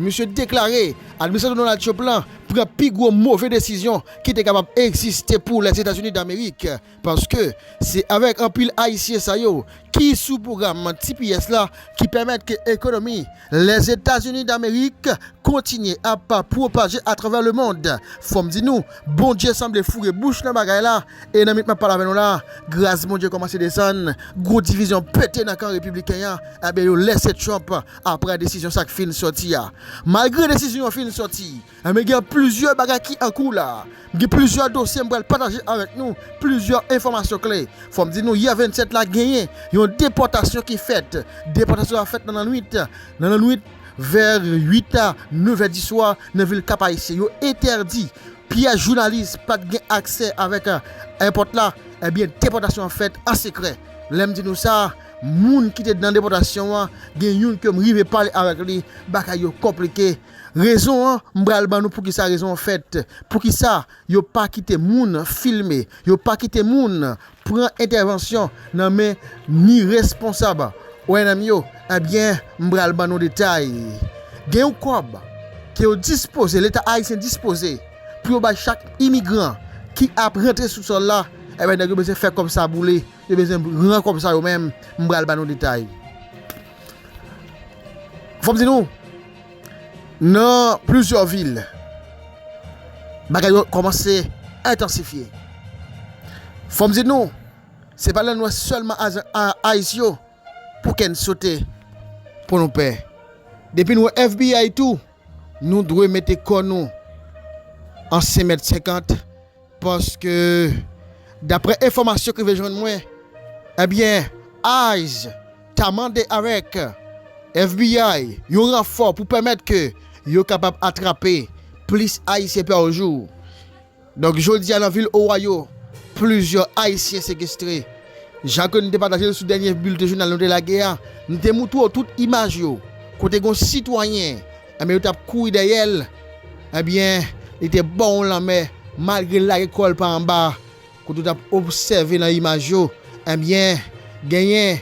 Misye deklare administrasyon Donald Trump la pran pi gwo move desizyon ki te kapab egziste pou Lèzetazini Damerik, paske se avèk anpil Ayisyen sa yo ki sou pwogram tps la ki pèmèt ke ekonomi Lèzetazini Damerik kontinye ap pwopaje atravè lemond. Fò m di nou, Bondye sanble foure bouch nan bagay la, e nan minit m ap pale avè nou la, gras Bondye kòmanse desann, gwo divizyon pete nan kan repibliken an, enben yo lèse Trump Aprè desizyon sa k fin sòti a. Malgre desizyon an fin sòti, enben gen plizyè bagay ki an kou la. M gen plizyè dosye m pral pataje avèk nou, plizyè enfòmasyon kle. Fò m di nou yè 27 la genyen yon depòtasyon ki fèt. Depòtasyon a fèt nan lannwit, nan lannwit vè 8 a 9 è diswa nan vil Kap Ayisyen. Yo entèdi pyès jounalis pa t gen aksè avèk èpòt la. Enben depòtasyon an fèt an sekrè. Lè m di nou sa. Moun ki te nan depòtasyon an gen youn ke m rive pale avèk li, bagay yo konplike. Rezon an m pral ban nou poukisa rezon an fèt, poukisa yo pa kite moun filme, yo pa kite moun pran entèvansyon nan men ni responsab ONM yo, ebyen m pral ban nou detay. Gen yon kòb ke yo dispoze, leta ayisyen dispoze pou yo bay chak imigran ki ap rantre sou sòl la, ebyen nèg yo bezwen fè kòb sa boule. Yo bezwen pran kòb sa yo men m pral ba nou detay. Fò m di nou, nan plizyè vil, bagay yo kòmanse entansifye. Fò m di nou, se pa nan lwès sèlman ays yo pou kè n sote, pou nou pè. Depi n wè FBI tou, nou dwe mete kò nou an 5 mèt 50. Paske daprè enfòmasyon ki rive jwenn mwen ebyen ice ta mande avèk FBI yon ranfò pou pèmèt ke yo kapab atrape plis ayisyen pa jou. Donk jodi a nan vil Ohio plizyè ayisyen sekestre. Jan ke nou te pataje l sou dènye bilte jounal nou te lage a, nou te moutre w tout imaj yo kote gon sitwayen Enben yo tap kouri dèyèl enbyen li te ba yon lanmè malgre l lage kòl pa anba a kote w tap obsève nan imaj yo enbyen genyen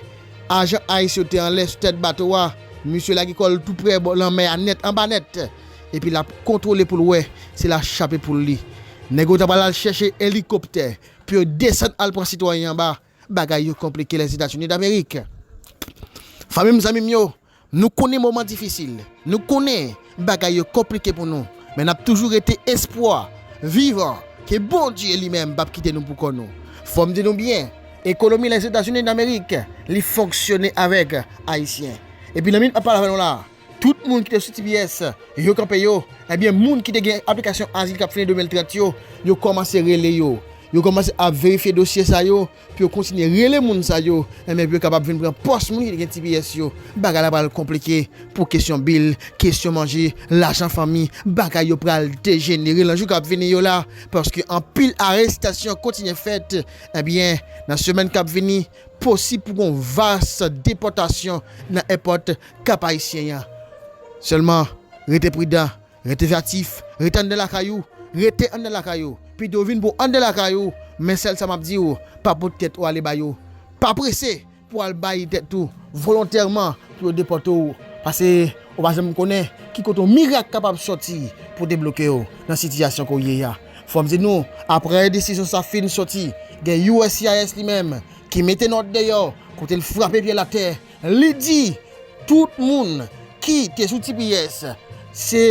ajan ice yo te anlè sou tèt bato a misye lage kòl tou prè bò lanmè a nèt anba nèt epi lap kontwole pou l wè si la chape poul li nèg yo ta pral al chèche elikoptè pou yo desann al pran sitwayen anba. Bagay yo konplike Lèzetazini Damerik. Fanmi m, zanmi m yo, nou konnen moman difisil. Nou konnen bagay yo konplike pou nou. Men n ap toujou rete espwa vivan ke Bondye li menm p ap kite nou pou kò nou. Fò m di nou byen, ekonomi Lèzetazini Damerik li fonksyone avèk Ayisyen. Epi nan minit m ap pale avè nou la a, Tout moun ki te sou tps yo kanpe yo, ebyen moun ki te gen aplikasyon azil kap fini 2030 yo, yo kòmanse rele yo. Yo kòmanse ap verifye dosye sa yo pou yo kontinye rele moun sa yo, ebyen pou yo kapab vin pran pòs moun ki te gen tps yo. Bagay la pral konplike pou kesyon bil, kesyon manje, lajan fanmi, bagay yo pral dejenere lan jou kap vini yo la, paske anpil arestasyon kontinye fèt, ebyen nan semèn kap vini. Posib pou gon vas depòtasyon nan èpòt Kap Ayisyen an. Sèlman rete pridan, rete veyatif, rete anndan lakay ou, rete anndan lakay ou, pito vin pou anndan lakay ou, men sèl sa map di ou, pa pot tèt ou ale ba yo. Pa prese pou al bay tèt ou volontèman pou yo depòte ou, pase ou pa janm konnen ki kote yon mirak kapab sòti pou debloke ou nan sitiyasyon ke ou ye a. Fò m di nou, aprè desizyon sa fin soti, gen uscis li menm ki mete nòt deyò kote l frape pye l atè, li di tout moun ki te sou tps se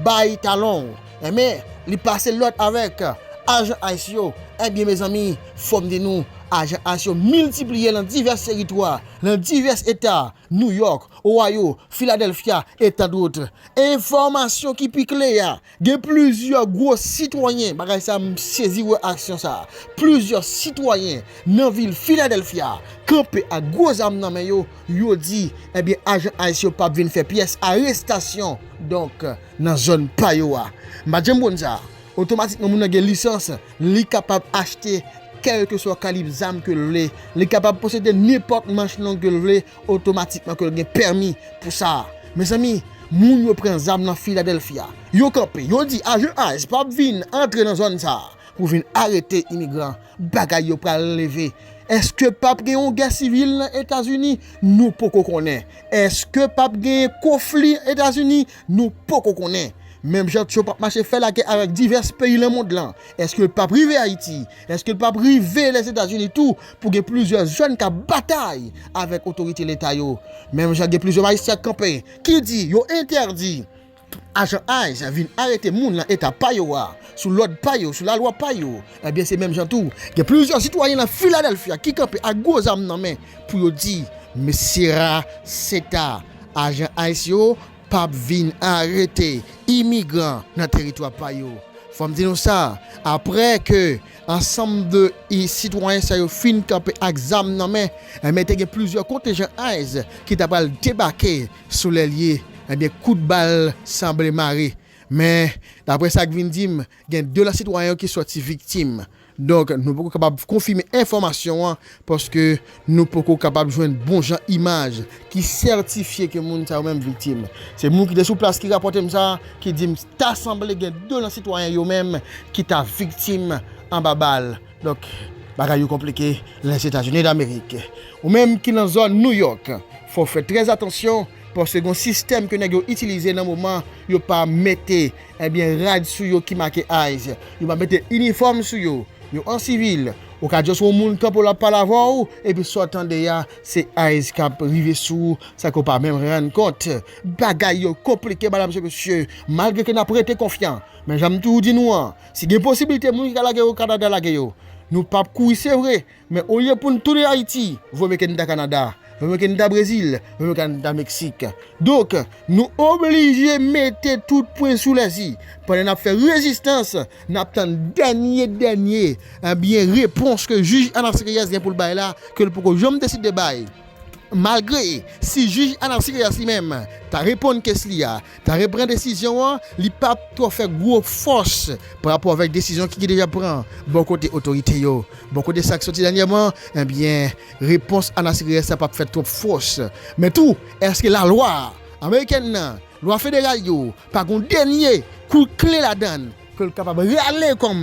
bay talon w, enben li pase lòd avèk ajan ice yo, enben mezanmi fò m di nou ajan ice yo miltipliye lan divès teritwa, lan divès eta, New York, Ohio, Philadelphia et tant d'autres. Enfòmasyon ki pi kle a, Gen plizyè gwo sitwayen, bagay sa m sezi wè aksyon sa, plizyè sitwayen nan vil Philadelphia kanpe ak gwo zam nan men yo, yo di ebyen ajan ice yo pap vin fè pyès arestasyon donk nan zòn pa yo a. M pat janm konn sa, otomatikman moun nan gen lisans, li kapab achte kèlkeswa kalib zam ke l vle, li kapab posede nenpòt manch long ke l vle, Otomatikman ke l gen pèmi pou sa a. Mezanmi, moun yo pran zam nan Philadelphia. Yo kanpe, yo di ajan ice p ap vin antre nan zòn sa a pou vin arete imigran. Bagay yo pral leve. Eske p ap gen yon gè sivil nan Etazini? Nou poko konnen. Eske p ap gen konfli nan Etazini? Nou poko konnen. Menm jan Trump ap mache fè lagè avèk divès peyi nan mond lan, eske l p ap rive Ayiti? Eske l p ap rive Lèzetazini tou pou gen plizyè jèn k ap batay avèk otorite leta yo, menm jan gen plizyè majistra k kanpe ki di yo entèdi ajan ice vin arete moun nan eta pa yo a, sou lòd pa yo, sou lalwa pa yo? Ebyen se menm jan tou gen plizyè sitwayen nan Filadelfya ki kanpe ak gwo zam nan men pou yo di mesye ra seta ajan ice yo pap vin arete imigran nan teritwa pa yo. Fòm di nou sa, aprè ke ansanm de sitwayen sa yo fin kanpe ak zam nan men, enben te gen plizyè kontenjan ice ki ta pral debake sou lè lye, enben kout bal sanble mare. Men, daprè sa k vin di m, Gen 2 lòt sitwayen yo ki sòti viktim. Donk, nou poko kapab konfime enfòmasyon an paske nou poko kapab jwenn bon jan imaj ki sètifye ke moun sa yo menm viktim. Se moun ki te sou plas ki rapòte m sa ki di m ta sanble gen 2 nan sitwayen yo menm ki ta viktim anba bal. Donk, bagay yo konplike Lèzetazini Damerik. Ou menm ki nan zòn Nouyòk, fò w fè trè atansyon paske gen yon sistèm ke nèg yo itilize nan moman yo pa mete Ebyen rad sou yo ki make ice. Yo pa mete inifòm sou yo. Yo an sivil. Ou ka just wè yon moun kanpe w lap pale avè w, epi sa w tande ya se ice kap rive sou ou san ke w pa menm rann kont. Bagay yo konplike madam se mesye, malgre ke nap rete konfyan. Men janm toujou di nou an, si gen posibilite moun ki ka lage yo Canada lage yo. Nou pap kouri se vre. Men olye poun tounen Ayiti, voye Mekennda Kanada, voye Mekennda Brezil, voye Mekennda Meksik. Donk, nou oblije mete tout pwen sou les i. Pandan n ap fè rezistans, n ap tann dènye dènye, ebyen, repons ke jij Anas Reyes gen pou l bay la, ke l poko janm deside bay. Malgre, si jij Anas Reyes li menm ta reponn kes li a, Kare pran desizyon an, li pa twò fè gwo fòs pa rapò avèk desizyon ki deja pran bò kote otorite yo. Bò kote sa k soti dènyèman, enbyen repons Anas Reyes la pa fè twòp fòs. Men tou, èske lalwa amerikèn nan, lwa federal yo, pa gen yon dènye kout kle ladan l ke l kapab rale kòm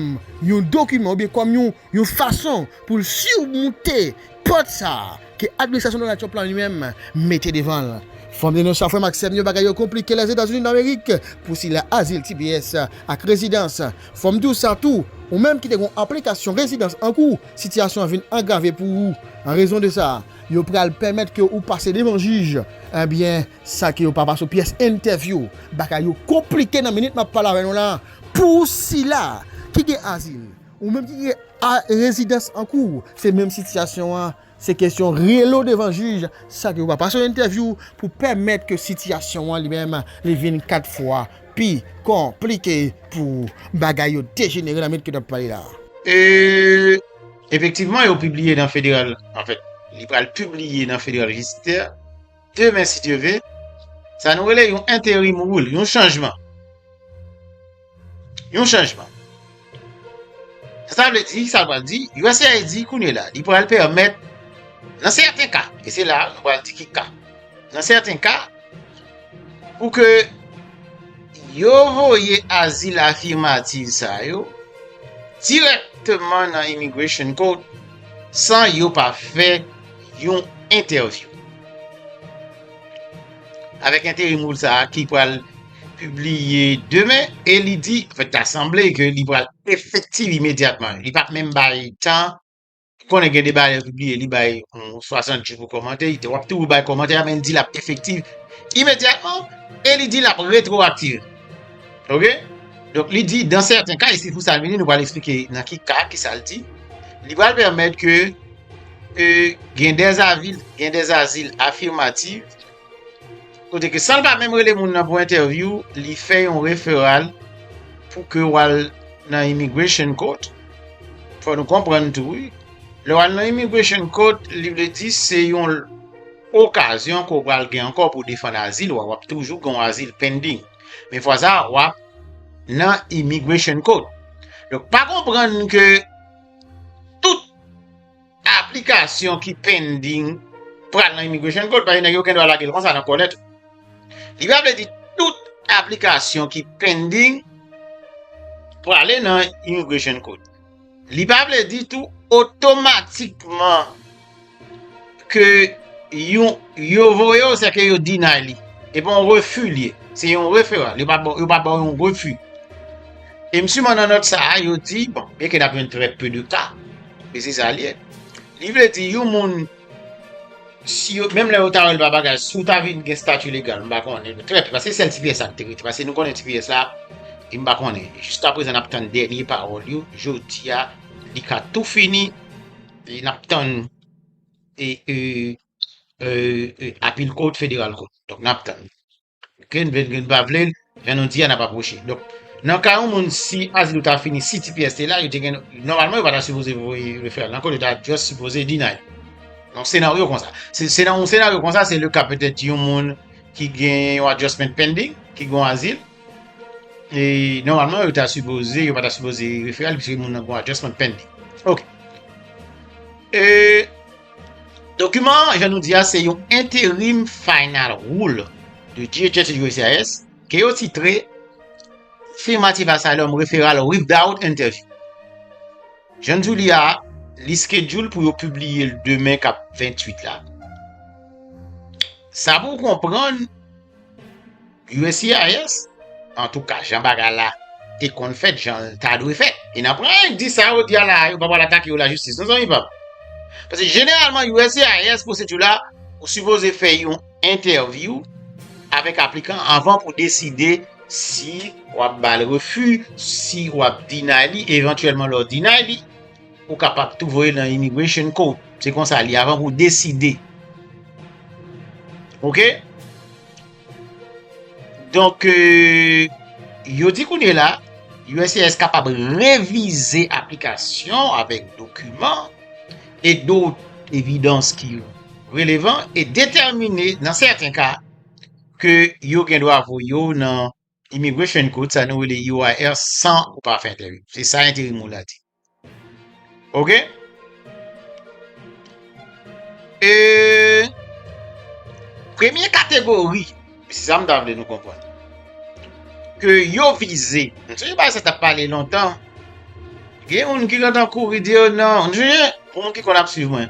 yon dokiman oubyen kòm yon fason pou l simonte Pòt sa a, ke administrasyon Donald Trump la li menm mete devan l. Fanm denon sa frè m ak sè m yo bagay yo konplike Lèzetazini Damerik pou sila azil tps ak rezidans. Fò m di w sa tou, ou menm ki te gen yon aplikasyon rezidans an kou, sitiyasyon an vin angrave pou ou an rezon de sa. Yo pral pèmèt ke ou pase devan jij ebyen sa ke yo pa pase w pyès entèvyou. Bagay yo konplike nan minit m ap pale avè nou la pou sila ki gen azil. Ou menm ki gen a rezidans an kou ou, se menm sitiyasyon an, se kesyon rele w devan jij san ke ou pa pase yon entèvyou pou pèmèt ke sitiyasyon an li menm li vin 4 fwa pi konplike pou ou. Bagay yo dejenere nan mèt ke n ap pale la a. E, efektivman yo pibliye nan federal, anfèt, li pral pibliye nan federal jisdikte a. Demen si Dye ve, sa nou rele yon enterim rule, yon chanjman. Yon chanjman. Sa vle di, sa vle di, USAID e di kounye la, li pral pèmèt nan sèten ka, e se la nou pral di ki ka. Nan sèten ka, pou ke yo voye azil afimativ sa yo dirèkteman nan Immigration Court san yo pa fè yon entèvyou avèk enterim woul sa a ki pral pibliye demen e li di, anfèt ta sanble ke li pral efektiv imedyatman, li pa menm bay tan, ou konnen gen de bagay lè yo pibliye li bay yon 60 jou pou kòmante, li di w ap toujou bay kòmantè a men li di l ap efektiv imedyatman e li di l ap retwowaktive. Ok, donk li di dan sèten ka e se pou sa li menm nou pral esplike nan ki ka, ki sa l di, li pral pèmèt ke ke gen dè avi, gen dè azil afimativ, kote ke san l pa menm rele moun nan pou entèvyou, li fè yon referal pou ke w al nan immigration court, fò nou konprann tou wi, lè w al nan immigration court, li vle di se yon okazyon ke w pral gen ankò pou defann azil ou a, w ap toujou gen yon azil pending, men fwa sa a w ap nan immigration court. Donk pa konprann ke. tout aplikasyon ki pending pral nan immigration court paske nèg yo gen dwa lage l konsa nan kòlèt ou. Li pa vle di tout aplikasyon ki pending prale nan immigration court. Li pa vle di tou otomatikman Ke yon yo voye w se ke yo deny li. E pa yon refi li ye. Se yon referral. Yo pa yo pa ba w yon refi. E m siman nan nòt sa a yo di bon byen ke n ap jwenn trè pe de ka men se sa li ye. Li vle di yon moun si yo menm lè yo ta wè l pa bagay si w ta vin gen stati legal m pa konnen men trè pe paske se sèl ti pyès sa k te rete paske nou konnen ti pyès la e m pa konnen jiskaprezan n ap tann dènye pawòl yo jodi a li ka tou fini. E nap tann e e e apil kot federal kot. Donk nap tann. Ok n vle n vle n pa vle jan nou di a nap apwoche. Donk nan ka yon moun si azil ou ta fini si tps te la yo te gen nòmalman yo pa ta sipoze voye referral nan kot yo ta just sipoze deny. Yon senaryo konsa. Se se nan yon senaryo konsa se le ka petèt yon moun ki gen yon adjustment pending ki gen yon azil. E normalman yo ta sipoze, yo pa ta sipoze referal pise moun nan gwa adjustment pen li. Ok. E dokiman, jan nou di a, se yon interim final rule de DHS et USCIS ke yo titre Affirmative Asylum Referral Without Interview. Jan nou di a, li schedule pou yo publie l demen kap 28 la. Sa pou w konprann, USCIS, Antouka, jan bagay la te konn fèt, jan l ta dwe fèt. E nan pwen yo di sa yo di a la a, yo pa pral atake yo lajistis non zanmi pa m. Paske jeneralman USCIS pwosedi la, ou sipoze fè yon entèvyou avèk aplikan anvan pou deside si w ap ba l refi, si w ap deny li, evantyèlman lè w deny li. Ou kapab tou voye nan immigration court. Se konsa li avan pou deside. Ok? Donk, euh, yo di kounye la, USCIS kapab revize aplikasyon avèk dokumen e dot evidans ki relevan e detèmine nan sèten ka ke yo gen dwa voye yo nan Immigration Court, sa nou rele UIR san ou pa fè entèvyou. Se sa enterim ou la di. Ok? E premye kategori, se sa m ta vle nou konpon. Ke yo vize. M se yo ba se ta pale lontan. Gen moun ki lontan kouri di yo nan. M se yo, pou moun ki kon ap suiv mwen.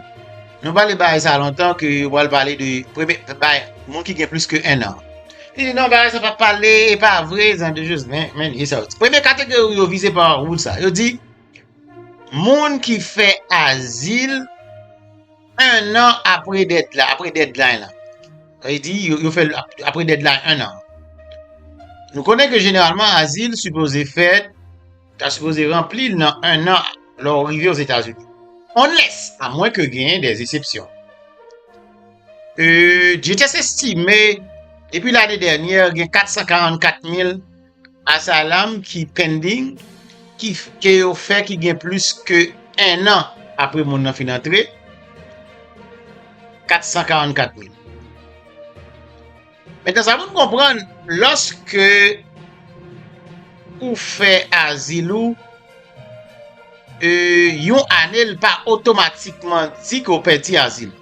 Nou pale ba se ta lontan ke yo pale de premye, moun ki gen plus ke 1 an. Li di non bagay sa pa pale, e pa vre, zan de jous, men, men, li sa yo di. Premye kategori yo vize pa wout sa, yo di, moun ki fè azil, 1 an apre dèd la, apre dèd la yon an. Yo di, yo fè apre dèd la 1 an. Nou konnen ke jeneralman azil sipoze fèt, Ta sipoze ranpli l nan 1 an lè w rive Ozetazini. Unless, a mwen ke genyen des esepsyon. Duterte estime depi lane dènyè gen 444 mil asalam ki pending ki ke yo fè ki gen plis ke 1 an apre moun nan fin antre. 444 mil. Mete sa pou n konprann, lòske ou fè azil ou yon ane li pa otomatikman di ke ou pèdi azil ou.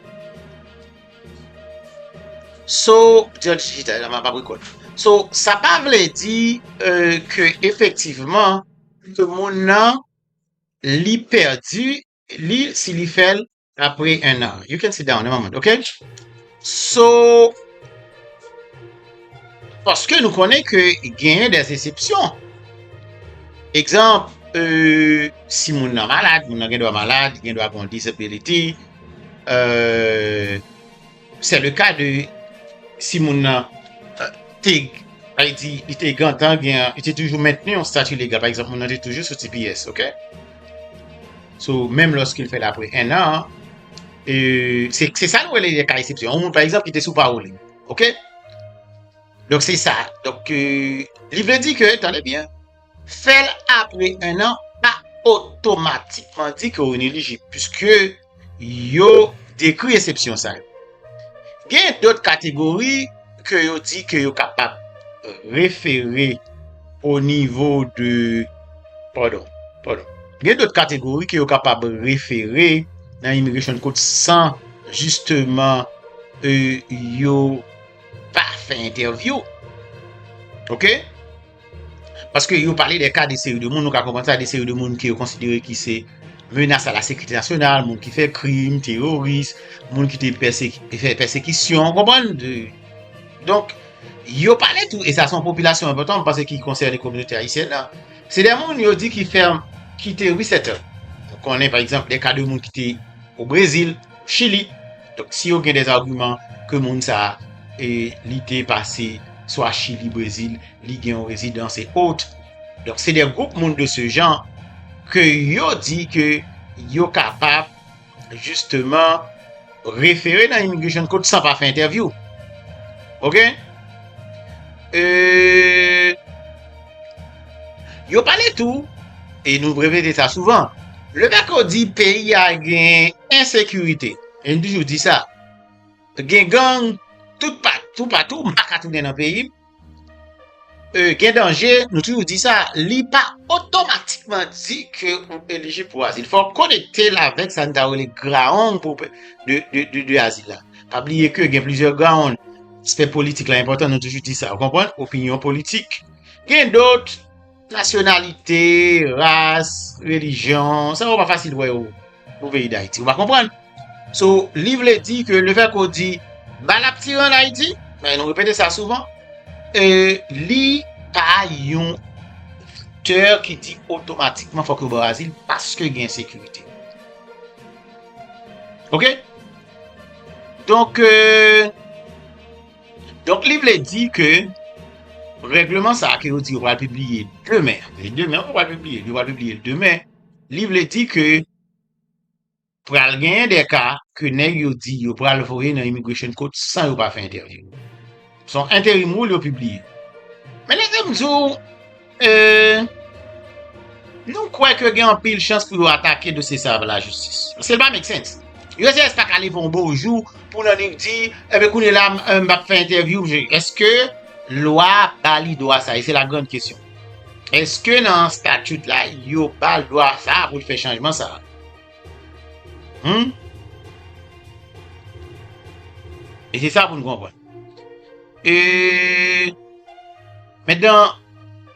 So, sa pa vle di ke efektivman ke moun nan li pèdi li si li fèl apre 1 an you can sit down a moment ok so paske nou konnen ke genyen des esepsyon egzanp euh, si moun nan malad moun nan gen dwa malad gen dwa gon disability euh Se le ka de si moun nan te, pa e di, li te gentan gen yon, li te toujou mentni yon stati legal, pa egzanp moun nan te toujou sou tps, ok? So, menm lòske l fè l apre 1 an, se sa nou rele le ka eksepsyon. Yon moun, pa egzanp, ki te sou pawoli, ok? Donk se sa. Donk, li vle di ke, tande byen, Fèl apre 1 an pa otomatikman di ke ou inelijib puiske yo dekri esepsyon sa yo. Gen dot kategori ke yo di ke yo kapab refere o nivo de, padon, padon, gen dot kategori ke yo kapab refere nan Immigration Court san jisteman yo pa fè entèvyou. Ok. Paske yo pale de ka de seri de moun, nou ka konprann sa, de seri de moun ke yo konsidere ki se menas a la sekirite nasyonal, moun ki fè krim, teroris, moun ki te fè pèsekisyon, ou konprann? Donk, yo pale tou, e sa son popilasyon anpotan, mwen panse ki konsène kominote ayisyèn nan, se de moun yo di ki fèm, ki te resettle. Konnen, pa egzanp, de ka de moun ki te o Brezil. Chili. Donk si yo gen des arguments ke moun sa e li te pase swa Chili, Brezil, li gen yon rezidans et autres. Donk se des groupes moun de ce genre ke yo di ke yo kapab justement refere nan Immigration Court san pa fè entèvyou. Ok? Euh. Yo pale tou, e nou repete sa souvan, le fèt yo di peyi a gen ensekirite, e m toujou di sa, gen gang tout patou, m pa ka tounen nan peyi m, gen danje, nou toujou di sa, li pa otomatikman di ke ou elijib pou azil. Fò w konekte l avèk sa n ta rele graong de azil la. Pa bliye ke gen plizyè ground. Aspè politik la enpòtan, nou toujou di sa, ou konprann? Opinyon politik. Gen dot, nasyonalite, ras, relijyon, sa yo pa fasil wè yo pou peyi Dayiti. Ou pa konprann? So, li vle di ke le fè ke w di bal ap tire an Ayiti, men nou repete sa souvan, li pa yon faktè ki di otomatikman fòk yo ba w azil paske gen ensekirite. Ok? Donk, donk li vle di ke règleman sa ke yo di yo pral pibliye demen, se demen yo pral pibliye, yo pral pibliye l demen, li vle di ke pral genyen de ka ke nèg yo di yo pral voye nan Immigration Court san yo pa fè entèvyou. Son interim rule yo pibliye. Men lese m di w, ee, nou kwè ke gen anpil chans pou yo atake dosye sa a ba lajistis. Paske li pa make sense. USCIS pa ka leve yon bon jou pou nan li di, enben kounye la m ap fè entèvyou m. Eske lwa ba li dwa sa a? E se la grand kesyon. Eske nan statute la yo ba l dwa sa a pou l fè chanjman sa a? Humm. E se sa pou nou konpwen. E. Mèt dan.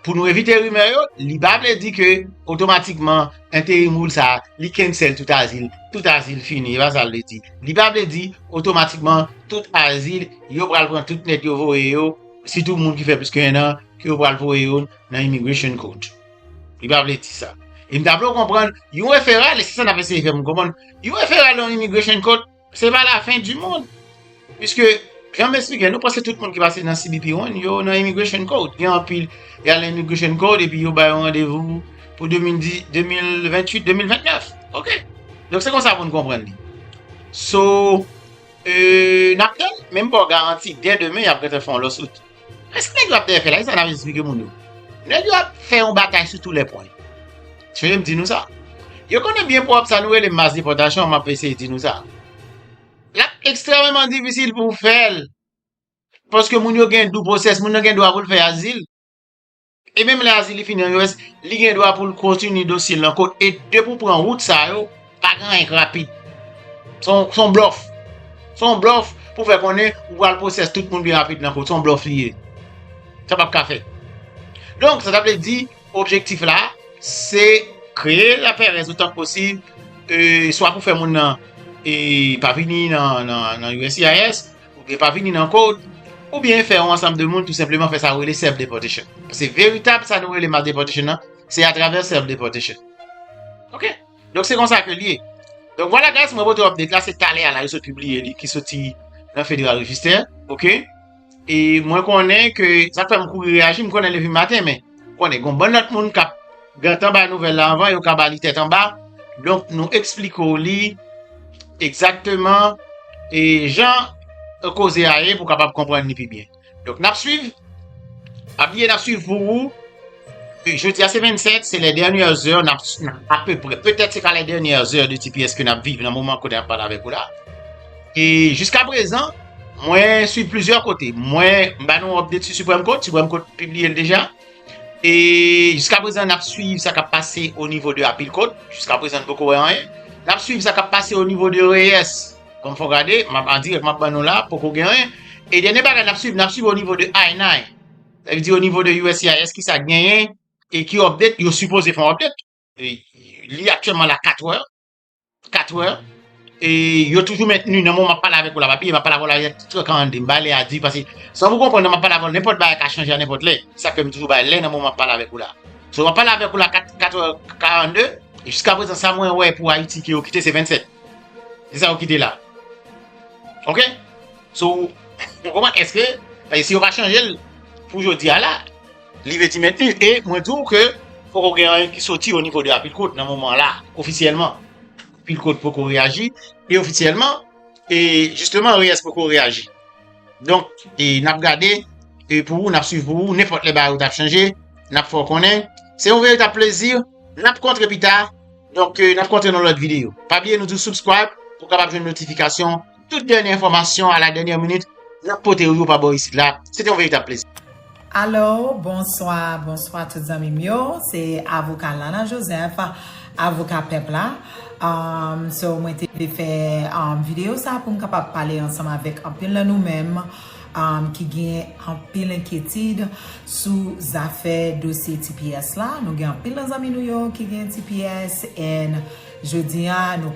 Pou nou evite rimè yo, li pa vle di ke otomatikman enterim ou sa, li kensèl tout azil, tout azil fini, e pa sa l vle di. Li pa vle di otomatikman tout azil yo pral pran tout nèt yo voye yo, sitou moun ki fè plis ke 1 an, ke yo pral voye yo nan immigration court. Li pa vle di sa. E m ta vle w konprann, yon referal, e se sa n ap eseye fè moun konprann, yon referal yon immigration court, se pa la fen di mond. Piske, jan m esplike, nou panse tout moun ki pase nan CBP one, yo nan immigration court. Gen anpil, y al nan immigration court, epi yo bay yon randevou pou 2010, 2028, 2029. Ok. Donk se konsa pou n konprann li. So, e, n ap tann, men m ba w garanti, dè demen y ap gentan fè yon lawsuit. Men sa nèg yo ap dèyè fè la, ki sa n ap esplike moun yo? Nèg yo ap fè yon batay sou tou lè pwen. Suiv m di nou sa. Yo konnen byen pwòp sa nou rele mas depòtasyon an, m ap eseye di nou sa. L ap ekstrèmeman difisil pou w fè l, paske moun yo gen dou pwosès, moun nan gen dwa pou l fè azil. E menm lè Azili fini an US, li gen dwa pou l kontinye dosye l nan kot. E depi ou pran wout sa yo, pa gen anyen k rapid. Se yon blòf. Se yon blòf pou fè konnen ou pral pwosès tout moun pi rapid nan kot. Se yon blòf li ye. Sa pap ka fèt. Donk, sa ta vle di, objektif la, se kreye lapèrèz otan k posib, swa pou fè moun nan pa vini nan USCIS, Oubyen pa vini nan kod, oubyen fè yon ansanm de moun tou senpleman fè sa yo rele self deportation. Se veritab sa nou rele mass deportation nan, se a travè self deportation. Ok, donk se konsa ke li ye. Donk vwala guys, mwen pote update la, se talè a la yo sot pibliye li ki soti nan Federal Register. Ok, e mwen konnen ke sa k fè m kouri reyaji, m konnen levim maten men. konnen gon bann lòt moun kap gentan bay nouvèl la anvan yo ka ba li tèt anba donk nou esplike w li egzakteman e jan koze a ye pou kapab konprann li pi byen donk nap swiv pa bliye nap swiv pou ou jodi a se 27 se lè dènyè zè nap apeprè petèt se ka lè dènyè zè de tipiyès ke nap viv nan moman kounye a nap pale avèk ou la. E jiska prezan, mwen swiv plizyè kote. Mwen ba nou update sou Supreme Court, Supreme Court pibliye l deja. E jiska prezan nap swiv sa kap pase o nivo de Appeal Court, jiska prezan nou poko wè anyen. Nap swiv sa kap pase o nivo de Reyes, kòm fò gade, map an dirèk map ban nou la, poko gen anyen. E dènye bagay nap swiv, nap swiv o nivo de I-9. Sa vle di o nivo de USCIS ki sa genyen e ki update, yo sipoze fè yon update. Li aktyèlman la 4 wè. 4 wè, e yo toujou mentni nan mou map pale avèk ou la pa piye map pale avèk ou la yè ti tran an de mba lè a di pase san pou konpran nan map pale avèk ou nenpòt bagay ka chanje a nenpòt lè sa fèm toujou bay lè nan mou map pale avèk ou la sou map pale avèk ou la 4 4 wè 42 jiska prezan sa mwen wè pou ayiti ki yo kite se 27 se sa yo kite la ok sou mwen konpran eske si yo pa chanje l pou jodi a la Li vle di mentni e mwen di w ke poko gen anyen ki soti o nivo de Apicot nan moman la ofisyèlman. Apicot poko reyaji e ofisyèlman e jisteman Reyes poko reyaji. Donk e n ap gade e pou ou n ap swiv pou ou nenpòt lè bagay yo t ap chanje n ap fè w konnen. Se yon veritab plezi n ap kontre pita donk n ap kontre nan lòt videyo. Pa bliye nou di w subscribe pou w kapab jwenn notifikasyon. Tout dènye enfòmasyon a la dènyè minit nap potew yo pa bò isit la. Se te yon veritab plezi. Alo, bonswa, bonswa tout zanmim yo, se Avoka Lana Joseph, Avoka Pèp la. So mwen te vle fè videyo sa poum kapab pale ansanm avèk anpil nan nou menm ki gen anpil enkyetid sou zafè dosye tps la. Nou gen anpil nan zanmi nou yo ki gen tps and jodi a nou.